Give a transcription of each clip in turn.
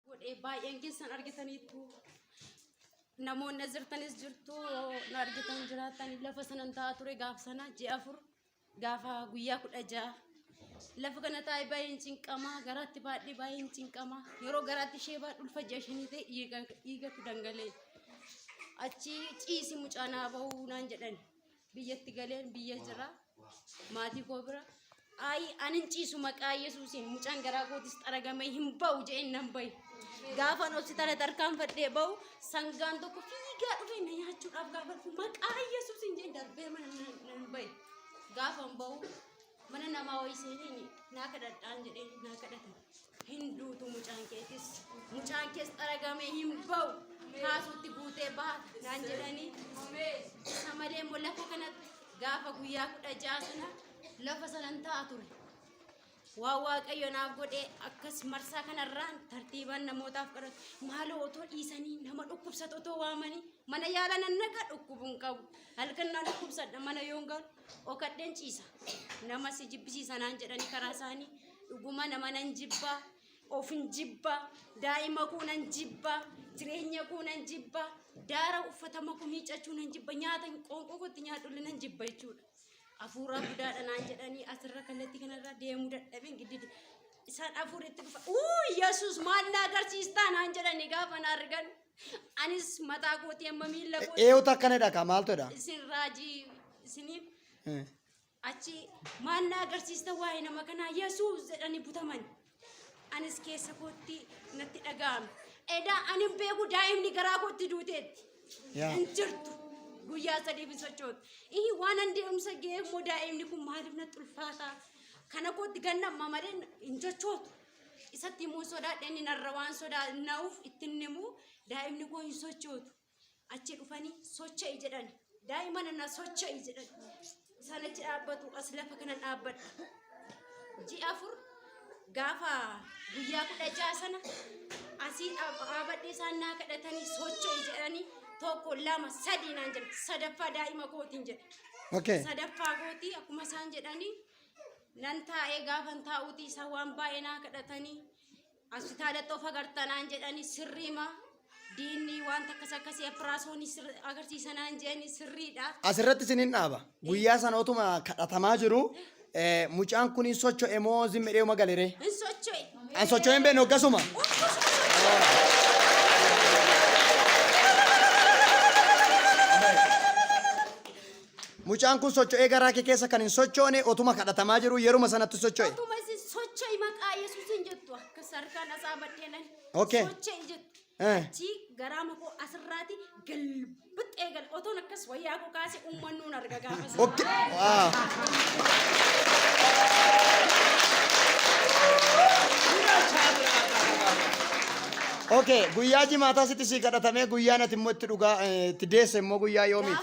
godhe baay'een keessan argitaniittu namoonni as jirtanis jirtu na argitan jiraatan lafa sanan taa'aa ture gaafa sana ji'a afur gaafa guyyaa kudha ja'a lafa kana taa'e baay'een cinqama garaatti baadhee baay'een cinqama yeroo garaatti ishee baadhu ulfa ji'a shanii ta'e dhiiga- dhiigatu dhangalee achi ciisi mucaa naa ba'uu naan jedhan biyyatti galeen biyya jira maatii koo bira ayi anin ciisu maqaa yesuusiin mucaan garaa kootis xaragamee hin ba'u je'een nan bahe gaafan hospitaala tarkaanfadhee ba'u sangaan tokko fiigaa dhufee na nyaachuudhaaf gaafa dhufu maqaa yesuusiin je'een darbee mana nan- nan bahe gaafan ba'u mana namaa wayii seeneen naa kadhadhaan jedheen naa kadhatan hin duutu mucaan keetis mucaan kees xaragamee hin ba'u kaasuutti guutee baha naan jedhanii isa malee immoo lafa kanatti gaafa guyyaa kudha ja'a sana lafa sanan ta'a ture waa waaqayyo naaf godhee akkas marsaa kanarraan tartiibaan namootaaf kadhatu maaloo otoo dhiisanii nama dhukkubsatu otoo waamanii mana yaala nannaqa dhukkubuun qabu halkan na dhukkubsadha mana yoon galu Dhokadheen ciisa. Nama si jibbisiisa naan jedhanii karaa isaanii dhuguma nama nan jibba. Ofin jibba. Daa'ima koo nan jibba. Jireenya koo nan jibba. Daara uffatama koo miiccachuu nan jibba. Nyaata qoonqoo kootti nyaadhullee nan jibba jechuudha. Afuuraa budaadha naan jedhanii asirra kallattii kanarra deemuu dadhabeen giddidi. Isaan afuuritti dhufa. Uu Yesuus maal na agarsiistaa naan jedhanii gaafa na argan. Anis mataa kootii amma miila kootii. Eewutu akkana jedha kaa maaltu jedha? Isin raajii isiniif Eh. achi maal na agarsiista waa'ee nama kanaa yesuus jedhanii butaman anis keessa kootti natti dhaga'ame edaa ani hin beeku daa'imni garaa kootti duuteetti Yaa. hin jirtu guyyaa sadiif hin sochootu ihi waan an deemsa ga'ee immoo daa'imni kun maaliif natti ulfaataa kana kootti ganna amma malee hin sochootu Isatti himuu sodaadhe inni narra waan sodaanna'uuf itti hin himu daa'imni koo hin sochootu. Achi dhufanii socha'i jedhan. Daa'ima nana socha'i jedhan. Isaan achi dhaabbatu as lafa kana dhaabbadha. Ji'a afur gaafa guyyaa kudha ja'a sana asii dhaabadhe isaan naa kadhatanii socha'i jedhanii tokko lama sadii naan jedhe sadaffaa daa'ima kootiin jedhe. Okay. Sadaffaa kootii akkuma isaan jedhanii nan taa'ee gaafan taa'uuti isaan waan baay'ee naa kadhatanii hospitaalatti of agartanaan jedhanii sirriima diinni waan takkas akkasii afiraasoonii agarsiisanaan jedhanii sirriidha. Asirratti isin hin dhaaba. Guyyaa sana otuma kadhatamaa jiru eh, mucaan kun hin socho'e moo zimmi dheeuma galeree? Hin socho'e. An socho'e hin beekne hoggasuma. Mucaan kun socho'ee garaa kee keessa kan hin sochoone otuma kadhatamaa jiru yeruma sanatti socho'e. Otuma isin socho'i maqaa Yesuusiin jettu akkas harkaan asaa baddee lali. Okay. Socho'i jettu. Eh. Achii garaa makoo asirraati galbixxee gal otoon akkas wayyaa koo kaase uummannuun arga gaafa sana. Okay. Wow. Okay, guyyaa jimaataa sitti sii kadhatamee guyyaan ati immoo itti dhugaa eh, itti deesse immoo guyyaa yoomii?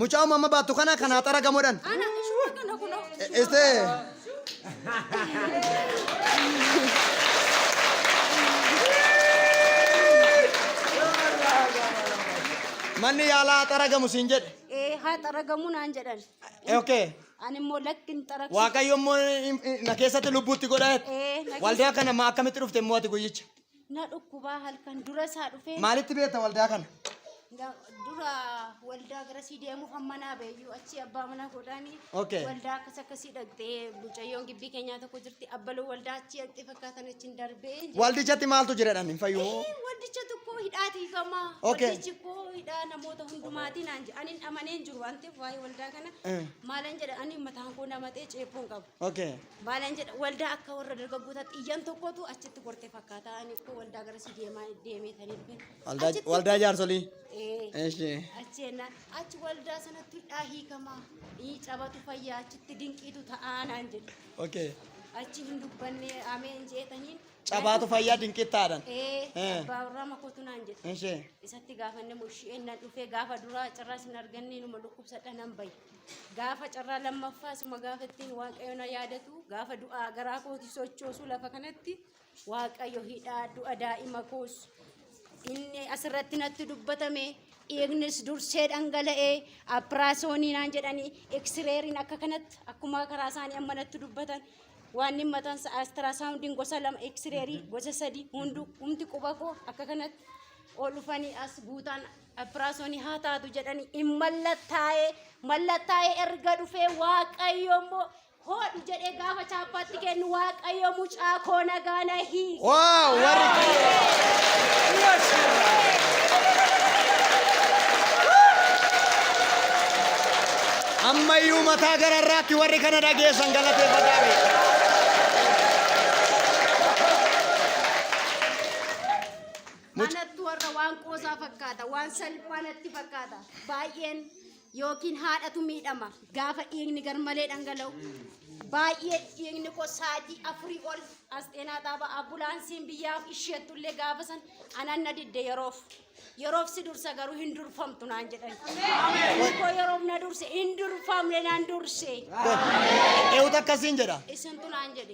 Mucaa umama baattu kana kan haaxara gamoodhaan. Ana ishuma kana kunoo. Este. Manni yaalaa haaxara gamu siin jedhe. Ee haa xaragamuu naan jedhan. Eh, Okay. Ani immoo lakki hin xaragsu. Waaqayyo immoo in- in- na keessatti lubbuutti godha. Ee, na Waldaa kana ma akkamitti dhufte immoo ati guyyicha? Na dhukkubaa halkan dura isaa dhufee Maalitti beekta waldaa kana? ga- dura waldaa garasii deemuuf hamma naa beeyyuu achi abbaa manaa godhaanii Okay. waldaa akkas akkasii dhaqxee mucayyoon gibbii keenyaa tokko jirti abbaloo waldaa achi dhaqxee fakkaatan achi hin darbee jedhe. Waldichatti maaltu jiradhan hin fayyuu? Ee, Waldicha tokko hidhaa tiifamaa. Okay. Waldichi koo hidhaa namoota hundumaatiin aan jedhe. Ani hin amanee hin jiru waan ta'eef waa'ee waldaa kana Eh. maalan jedha ani mataan koo namatee ceephoon qabu. Okay. Maalan jedha waldaa akka warra dargaggootaatti iyyan tokkotu achitti korte fakkaata. Ani koo waldaa gara si deemaa deemee taniif bin. Waldaa Achitti- waldaa jaarsolii. Ee. Eshi. Achi jennaan achi waldaa sanatti hudhaa hiikamaa. Ii cabatu fayyaa achitti dinqiitu ta'aa naan jedhe. Okay. Achi hin dubbanne ameen jeetaniin. Cabaatu fayyaa dinqittaadhan. Ee. Eh. Abbaa warraa makotu naan jedhe. Eshi. Isatti gaafanne mushii ennaan dhufee gaafa duraa carraas hin arganne numa dhukkubsadha nan baye. Gaafa carraa lammaffaa suma gaafa ittiin Waaqayyo na yaadatu gaafa du'aa garaa kooti sochoosu lafa kanatti Waaqayyo hidhaa du'a daa'ima koos inni asirratti natti dubbatame dhiignis dursee dhangala'ee appiraasoonii naan jedhanii eksireeriin akka kanatti akkuma karaa isaanii amma natti dubbatan waan inni mataan isaa astirasaawundiin gosa lama eksireerii gosa sadii hunduu humti quba koo akka kanatti ol dhufanii as guutaan Ephiraasoni haa taatu jedhani in mallattaa'ee mallattaa'ee erga dhufee waaqayyo immoo hoodhu jedhee gaafa chaappaatti kennu waaqayyo mucaa koo nagaa na hiike. Waaw warri ammayyuu mataa gararraatti warri kana dhageessan galateeffataa fi Anattu warra waan qoosaa fakkaata, waan salphaa natti fakkaata. Baay'een yookiin haadhatu miidhama gaafa dhiigni garmalee dhangala'u. Baay'ee dhiigni koo sa'aatii afurii ol as xeenaa taaba ambulaansiin biyyaaf isheettullee gaafa san anan na didde yeroof. Yeroof si dursa garuu hin durfamtu naan jedhan. Inni koo yeroof na durse hin durfamne naan durse. Eewutu akkasiin jedha. Isintu naan jedhe.